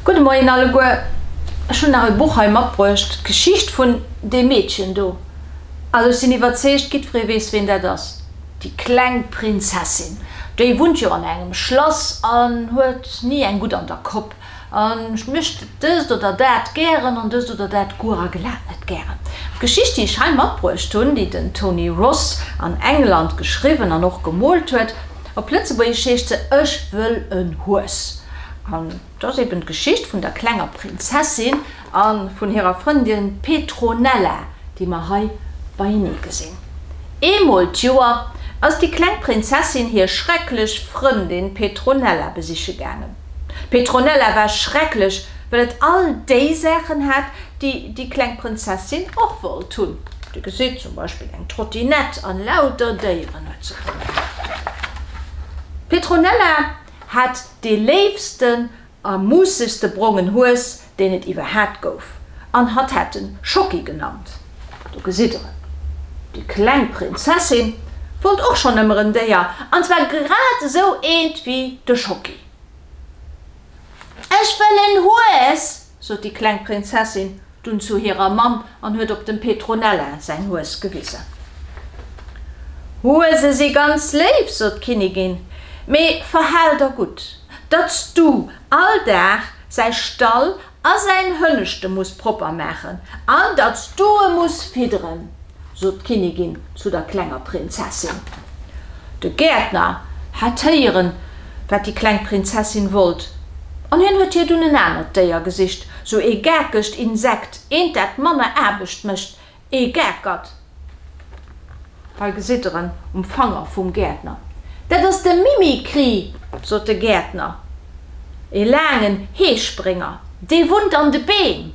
Gudde Moien alleguer, ech hunn nach e Buch hei matbruecht, d'Geschicht vun deem Meedchen do. Also ech sinn iwwerzeegt, giddferee weess ween dat ass, déi kleng Prinzessin, déi wunnt jo an engem Schlass an huet ni eng gutt an der Kopp. An ech mécht dëst oder dat gären an dëst oder dat guer a glat net gären. D'Geschicht, déi ech hei matbruecht hunn, déi den Tony Ross an England geschriwwen an och gemoolt huet, op Lëtzebuergesch heescht se Ech wëll en Hues. An et ass eben d'Geschicht vun der klenger Prinzessin. A vun hirer Frëndin Petronella, déi mer hei beienee gesinn. Eemol d'Joer ass déi kleng Prinzessin hir schrecklech Frëndin Petronella besiche gaangen. D'Petronella war schrecklech, well et all déi Saachen hat, déi déi kleng Prinzessin och wollt hunn. Dir gesitt, zum Beispill eng Trottinett an lauter Déieren huet se gern gehat. D'Petronella hat dee léifsten A Muusses de brongen Hues, deen et iwwer hat gouf, an hatt hat en Schocki genannt. Do gesitt der en. Déi kleng Prinzessin wollt och schonn ëmmer en Déier, an zwar grad esou eent wéi de Schocki. Ech wëll en Hues! sot déi kleng Prinzessin Dunn zu hirer Mamm an huet op dem Petronella säin Hues gewisen. Huese si ganz léif, sot d'Kinnigin, mee verhal der gutt, datt s du all Dag säi Stall a säin Hënneschte muss propper maachen an datt s du e muss fidderen. sot d'Kinnigin zu der klenger Prinzessin. De Gäertner hat héieren, wat déi kleng Prinzessin wollt, an hien huet hir dunn en anert Déier gesicht, sou ee gakegt Insekt, eent, dat manner Aarbecht mécht, ee Gakert. Hei gesitt der en um Fanger vum Gäertner. Dat ass de Mimikry, sot de Gäertner, ee laangen Heesprénger, dee wunnt an de Beem.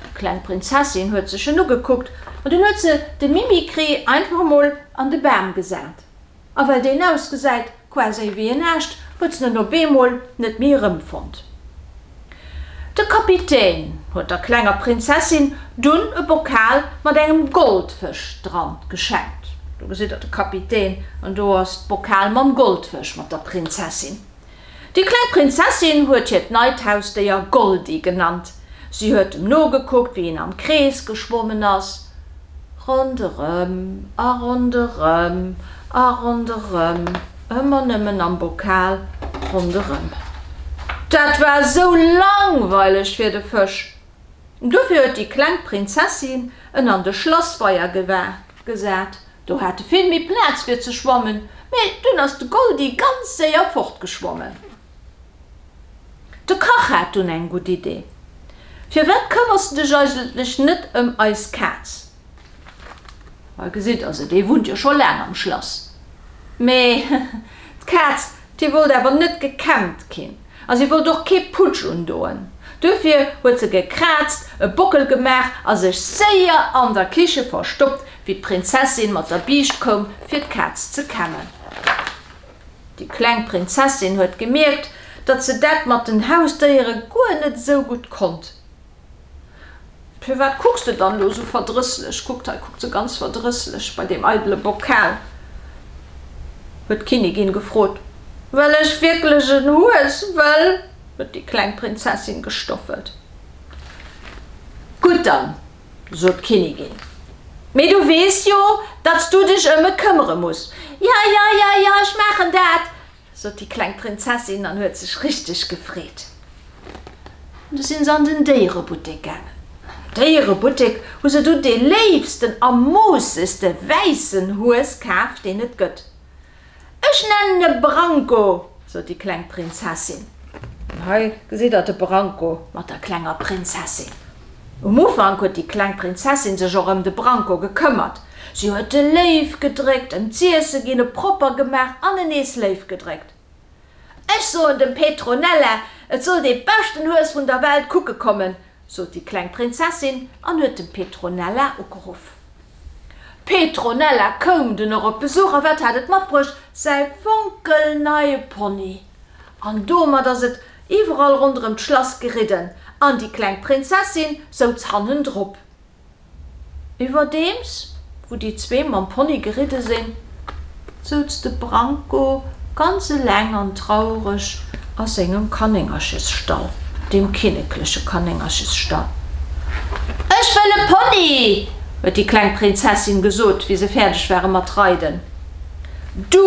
D'kleng Prinzessin huet sech en ugekuckt an dunn huet se de Mimikry einfach emol an de Bam gesat. A well deen ausgesäit quasi wéi en Aascht, huet s'en op eemol net méi erëmfonnt. De Kapitän huet der klenger Prinzessin dunn e Bokal mat engem Goldfësch dran geschenkt. Do gesitt der de Kapitän an do ass d'Bokal mam Goldfësch mat der Prinzessin. Déi kleng Prinzessin huet hiert neit Hausdéier Goldi genannt. Si huet em nogekuckt, wéi en am Krees geschwommen ass, ronderëm a ronderëm a ronderëm, ëmmer nëmmen am Bokal ronderëm. Dat war esou langweileg fir de Fësch. Dofir huet déi kleng Prinzessin en an de Schlassweier gewaart. Gesat, do hate vill méi Plaz fir ze schwammen, mee dunn ass de Goldi ganz séier fortgeschwommen. De Kach hat dunn eng gutt Idee, Firwat këmmers de dech eigentlech net ëm eis Kaz? Hei gesitt der se, déi wunnt jo scho laang am Schlass. Mee d'Kaz Si wollt awer net gekämmt ginn a si wollt och kee Putsch undoen. Duerfir huet se gekraazt, e Bockel gemaach a sech séier an der Kiche verstoppt, wéi d'Prinzessin mat der Biischt koum, fir d'Kaz ze kämmen. Déi kleng Prinzessin huet gemierkt, datt se dat mat den Hausdéiere guer net esou gutt konnt. Firwat kucks de dann do sou verdrësslech? Kuckt, hei kuckt se ganz verdrësslech bei deem eidele Bokal, huet d'Kinnigin gefrot. Well ech wierklech en Hues wëll, huet déi kleng Prinzessin gestoffelt. Gutt dann, sot d'Kinnigin. Mee du weess jo, datt s du dech ëm e këmmere muss. Ja, ja, ja, ja, ech maachen dat, sot déi kleng Prinzessin an huet sech richteg gefreet. Du sinn se an den Déierebuttek gaangen. Am Déierebuttek hu se du dee léifsten a moossegste wäissen Hues kaf, deen et gëtt. Ech nennen e Branko, sot déi kleng Prinzessin. Hei gesitt der de Branko mat der klenger Prinzessin. Um Ufank huet déi kleng Prinzessin sech och ëm de Branko gekëmmert. Si huet e léif gedréckt, ëm z'iesse ginn, e propper gemaach an e nees léif gedréckt. Ech soen dem Petronella, et soll dee beschten Hues vun der Welt kucke kommen, sot déi kleng Prinzessin an huet dem Petronella ugeruff. Petronella koum dunn och op Besuch a wat hat et matbruecht? Säi fonkelneie Pony! An domat ass et iwwerall ronderëm d'Schlass geridden an déi kleng Prinzessin souz hannendrop. Iwwerdeems wou déi zwee mam Pony geridde sinn, souz de Branko ganz eleng an traureg a sengem Kanéngerchesstall, dem kinnekleche Kanéngerchesstall. Ech wëll e Pony! huet déi kleng Prinzessin gesot, wéi se fäerdeg ware mat reiden. Du,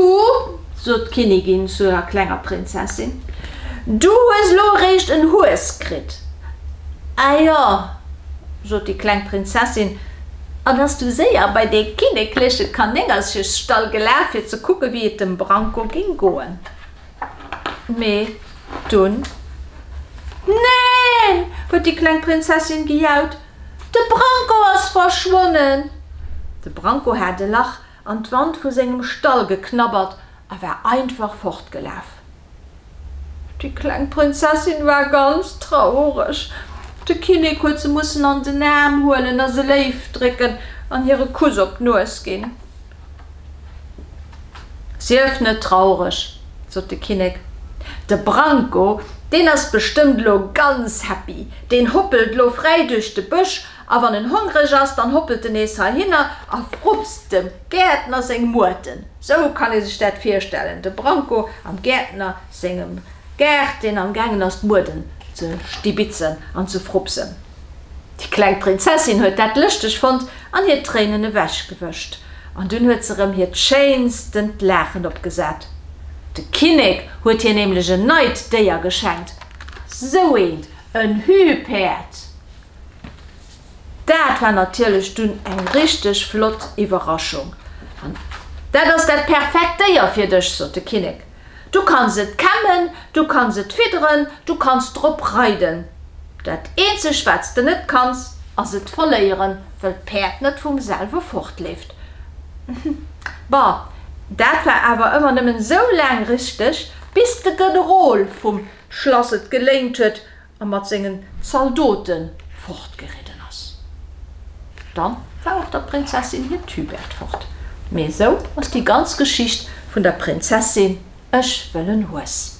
sot d'Kinnigin zu der klenger Prinzessin, du hues lo eréischt en Hues kritt. A jo, sot déi kleng Prinzessin, an ass du séier bei dee kinnekleche Kanéngerchesstall gelaf, fir ze kucken, wéi et dem Branko géing goen. Mee dunn, Neen! huet déi kleng Prinzessin gejaut, de Branko ass verschwonnen! De Branko hat e Lach an d'Wand vu sengem Stall geknabbert a war einfach fortgelaf. Déi kleng Prinzessin war ganz traureg. De Kinnek huet se mussen an den Aarm huelen a se léif drécken an hir e Kuss op d'Nues ginn. Sief net traureg, sot de Kinnek, de Branko, deen ass bestëmmt lo ganz happy, deen hoppelt lo fräi duerch de Bësch A wann en hongreg ass, dann hoppelt en nees heihinner a frupst dem Gäertner seng Muerten. Sou kann ee sech dat virstellen, de Branko am Gäertner sengem Gaart, deen am gaangen ass d'Muerten ze stibitzen an ze frupsen. Déi kleng Prinzessin huet dat lëschteg fonnt an hir Tréinen ewechgewëscht. An dunn huet se rëm hiert schéinstent Laachen opgesat. De Kinnek huet hir nämlech en neit Déier geschenkt, sou eent, en Hühpäerd. Daat war natierlech dunn eng richteg flott Iwwerraschung. An daat ass daat perfekt Déier fir dech, sot de Kinnek. Du kanns et kämmen, du kanns et fidderen, du kanns drop reiden. Daat eenzeg waats de net kanns, ass et verléieren, wëll d'Päerd net vum selwe fortleeft. Bah, daat war awer ëmmer nëmmen sou laang richteg, bis de Generol vum Schlass et geléint huet a mat sengen Zaldote fortgeridden ass. Dann war och der Prinzessin hiert Tübert fort. Mee esou ass déi ganz Geschicht vun der Prinzessin Ech wëll en Hues.